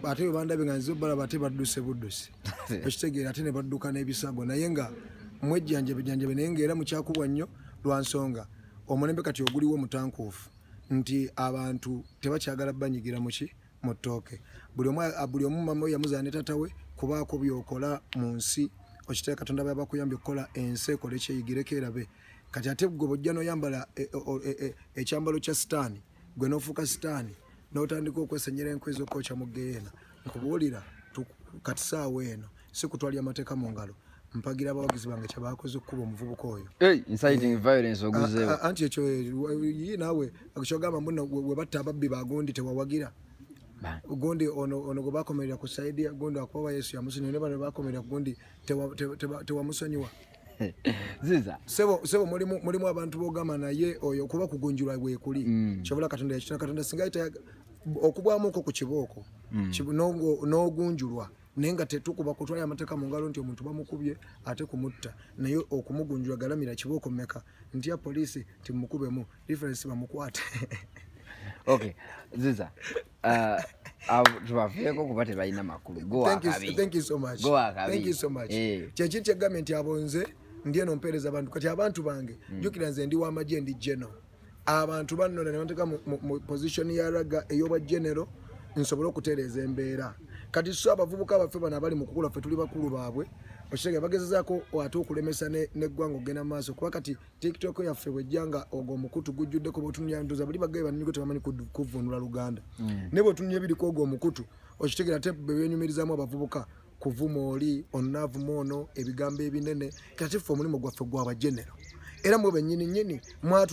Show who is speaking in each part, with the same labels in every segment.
Speaker 1: ate webandabe nga nzize obalaba ate badduse budduse ekitegeera ate ne badduka n'ebisago naye nga mwejjanjabejanjabe naye ngaera mukyakubwa nnyo lwa nsonga omulembe kati oguliwo mutankuufu nti abantu tebakyagala banyigira muki mu ttooke buli omu mama we yamuzaa ne tata we kubaako byokola mu nsi okitera katonda baba bakuyambye okukola ensi ekole kyeyigireko erabe kati ate gwe bojja noyambala e, e, e, ekyambalo kya sitaani gwe nofuuka sitaani notandika okwesenyera enkwe ezokokya mu geyeena nkubuulira kati saawa eno si kutwalya amateeka mu ngalo mpagira abawagizi bange kyebakoze okukuba omuvubuka oyo
Speaker 2: anti ekyo yi
Speaker 1: naawe kyogamba muno webatta ababbi bagundi tewawagira gundi ono gwe bakomerera ku saidi gundi akuba wa yesu yamusinyo ne bano bakomerera ku gundi tewamusonyiwa
Speaker 2: ziza sebo sebo
Speaker 1: mulimu mulimu abantu bogama naye oyo kuba kugunjura gwe kuli mm. chabula katonda ya chitaka katonda singa ita okubwa muko ku kiboko mm. chibu nongo nogunjurwa nenga tetukuba kutwala amateka mu ngalo nti omuntu bamukubye ate kumutta naye okumugunjura galamira kiboko meka nti ya police timukubemu difference bamukwate
Speaker 2: okay ziza Uh, tubaveeko kuba tebalina makulu
Speaker 1: kyekiri kyegambye nti abo nze ndi eno mpeereza abantu kati abantu bange hmm. jukira nze ndi wamagye ndi geno abantu bannona nebateka mu position ya raga eyobwa genero nsobole okutereeza embeera kati so abavubuka baffe bano abali mu kukula ffe tuli bakulu baabwe okitege bagezezaako ate okulemesa neggwanga okugenda mu maaso kuba kati tiktok yaffe bwejja nga ogwo omukutu gujjuddeko bwotunulya ntuza buli bagaye baniko tebamanyi kuvunula luganda mm. naye bwotunulya ebiriko ogwo omukutu okitegera te bebenyumirizamu abavubuka kuvuma oli onavuma ono ebigambo ebinene kati ffe omulimu gwaffe gwabagenero era mwe benyini nyini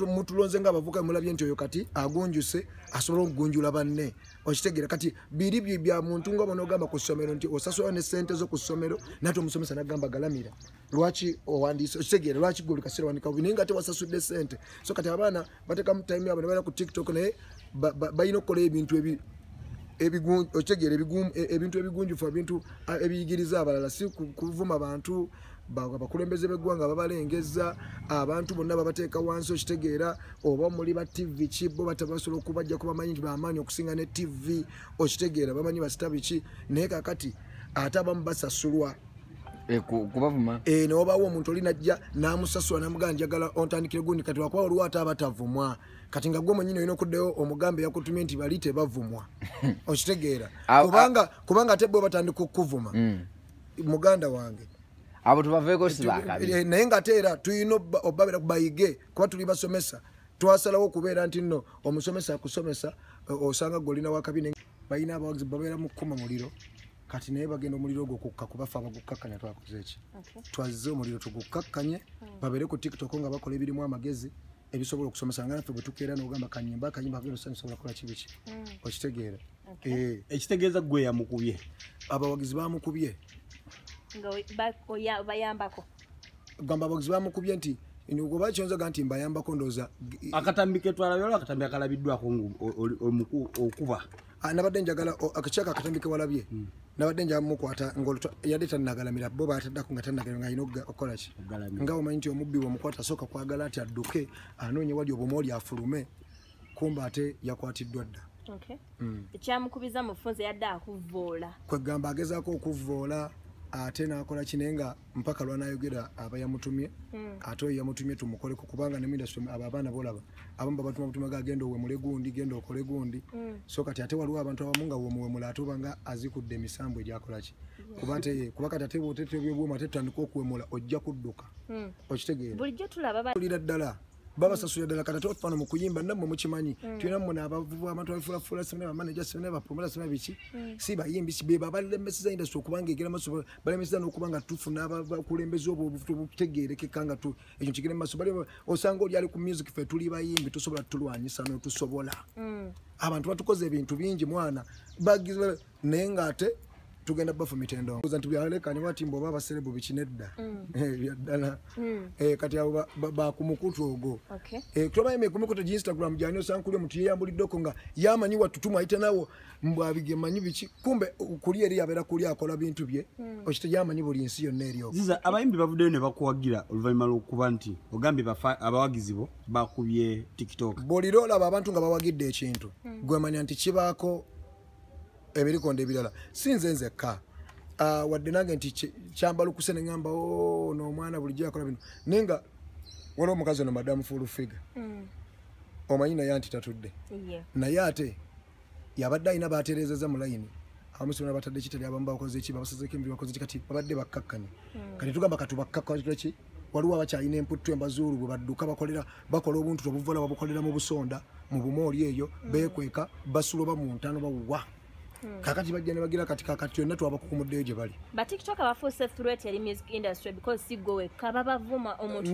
Speaker 1: mutulonze nga abavuka mulabye nti oyo kati agunjuse asobola okugunjula banne okitegera kati biri byo bya muntu nga bona ogamba ku ssomero nti osasula ne ssente zo ku ssomero nate omusomesa nagamba galamira lwaki owandiise okitegeera lwaki gwe olikaseera wandika bubi naye nga ate wasasudde sente so kati abaana batekamu time yabwe nebaera ku tiktok naye balina okukola ebintu ebi okitegeera e, ebintu ebigunjufu ebintu ebiyigiriza abalala si kuvuma bantu abakulembeze beggwanga babalengeza abantu bonna babateeka wansi okitegeera oba muli ba tv ki bo batabasobola okubajja ku bamanyi nti bamaanyi okusinga ne tv okitegeera bamanyi basita biki naye kakati ate abamu basasulwa Eh,
Speaker 2: kubavuma eh, newabawo omuntu
Speaker 1: oli najja namusasula namugaa njagala ontandikire gundi kati wakuba waliwo ate abatavumwa kati nga gwe mwenyini olina okuddayo omugambe yakutumye nti bali tebavumwa okitegeera kubanga kubanga ate bwe batandika okukuvuma mm. muganda wange abo tubaveeko
Speaker 2: sibakabi eh, naye nga ate era
Speaker 1: tulina obabera bayige kuba tuli basomesa twasalawo okubeera nti nno omusomesa akusomesa osanga gwe olina wakabi balina abawagizi babeera mu kukuma muliro kati naye bagenda omuliro ogwo kukka kuba fe abagukakkanya twakoze eki twazze omuliro tugukkakkanye hmm. babeere ku tiktok nga bakola ebirimu amagezi ebisobola okusomesa nga naffe bwetukeera nogamba kanyimba akanyimba agensobola kola kibi ki hmm. okitegeera eh.
Speaker 3: ekitegeeza gwe yamukubye abawagizi
Speaker 1: bamukubye
Speaker 4: bayambako gamba box
Speaker 1: bamukubye nti ngoba kyonzaga nti mbayambako ndoza akatambi ketwalabyola
Speaker 3: akatambi akalabiddwako omuku okuba ah, nabadde
Speaker 1: njagala akakyaka akatambi kewalabye hmm. nabadde njaga mukwata yadde tanagalamira bo bataddako nga tanagala nga alina okukolaki nga omanyi nti omubbi wemukwata asooka kwagala nti adduke anoonye wali obuma oli afulume kumba ate yakwatiddwa dda hmm. ekyamukubiza
Speaker 4: mufunze yadde akuvvoola kwegamba agezaako
Speaker 1: okuvvoola ate nakola kine nga mpaka lwanayogera aba yamutumye hmm. ate oyo yamutumye tumukoleko kubanga ne industry abo abaana bolaba abamu babatuma butuma ga genda owemule gundi genda okole gundi hmm. so kati ate waliwo abantu abamu nga womuwemula ate obanga azikudde emisambo egyakolaki kuba ate kuba kati ate bwotetebyobwoma ate tutandika okuwemula ojja kudduka hmm. okitegeera bulijjo
Speaker 4: tulaba ddala
Speaker 1: babasasula ddala kata tofano mukuyimba namwe mukimanyi mm. tulina muna abavubu abantu abafulafula sibna bamanaja sibna bapromola sibna biki mm. si bayimbi beba balemeseza industry okubanga egera maso balemeseza nokuba nga tufuna abakulembeza obwo obufuta obutegerekeka nga tu ekyo kigere maso bali osanga oli ali ku music fe tuli bayimbi tusobola tulwanyisa notusobola mm. abantu batukoze ebintu bingi mwana naye ng'ate tugenda bafu mitendo oza nti byalekani wati mbu oba abaserebu bikinedda mm. eh, byaddala mm. eh, kati abo bakumukutu ogo eh, tobayeme kumikutu gi instagram gyani osankuli omuntu yeyambuliddeko nga yamanyi watutuma ayite nawo mbu abigemanyi biki kumbe kuli eri yabeera kuli akola bintu bye mm. okite yamanyi buli nsi yonna eryo ziza abayimbi bavuddeyo
Speaker 3: ne bakuwagira oluvannyuma lwokuba nti ogambye abawagizi bo bakubye
Speaker 1: tiktok bulira olaba abantu
Speaker 3: nga
Speaker 1: bawagidde ekintu gwemanya nti kibaako ebirikonda ebirala si nze nzekka ah, wadde nange nti kyambalukuse ne ŋamba oh, noomwana bulijjo yakola bino naye nga waliwo omukazi ono madamu fulufiga mm. omanyi naye anti tatudde naye ate yabadde alina batereezeza mu layini amusibona batadde kitali abamu bakoze ki babasazeko emiri bakoze ki kati babadde bakkakkanye hmm. kati tugamba katubakkakki waliwo abakyalina emputtu embazuulu bwe badduka bakolera bakola obuntu obuvola babukolera mu busonda mu bumooli eyo mm. beekweka basula oba mu ntano bawuwa hmm. kakati bajja ne bagira kati kakati yonna twabakukumuddeyo gye bali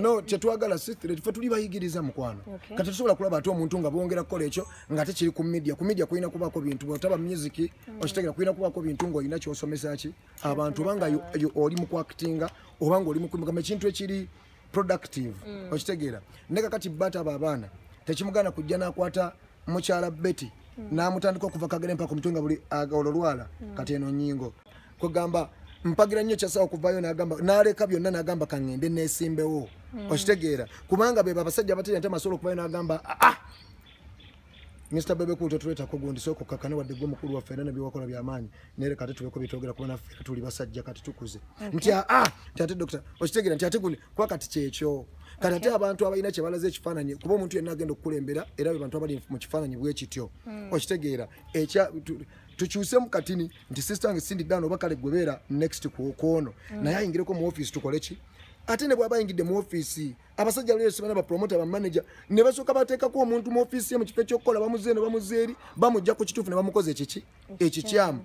Speaker 4: no kyetwagala
Speaker 1: fe tuli bayigiriza mukwano kati tusobola kulaba ate omuntu nga bongera kukola ekyo nga tekiri ku media ku media kulina kubaako bintu bwotaba music hmm. okitegera kulina kubaako bintu ng'olina kyosomesa ki abantu oba nga oli mu kwakitinga oba nga oli mukumugamba ekintu ekiri productive mm. okitegeera ne kakati bata abo abaana tekimugana kujja nakwata mukyala betty mm. namutandika okuva kagere mpaka omutwe nga buli olwo lwala mm. kati eno nyingo kwegamba mpagira nnyo kyasawa okuvayo nagamba naleka byonna nagamba kangende nesimbewo okitegeera kubanga bebo abasajja abateri ate masobola okuvayo nagamba aa ah, ah, Mr. Bebe Cool tetuleta ko gundi soko kakane wadde gwo mukulu wa fena nabi wakola bya manyi nere kati tuleko bitogera kuba na fena tuli basajja kati tukuze okay. mtia ah tate doctor oshitegera ntia tate gundi kwa kati checho kati okay. abantu abayina kye balaze ekifananyi kuba omuntu yenna agenda okukulembera era be bantu abali mu kifananyi bwe kityo mm. oshitegera ekya tu, tukyuse mu katini nti sister wange sindi dano bakale gwebera next ku kono mm. naye ayingireko mu office tukole ki ate ne bwaba ayingidde mu office abasajja lero sibana ba promoter ba manager ne basoka bateka ku omuntu mu office ye mu kifo kyokukola bamuze ne bamuze eri bamujja ku kitufu ne bamukoze ekiki ekikyamu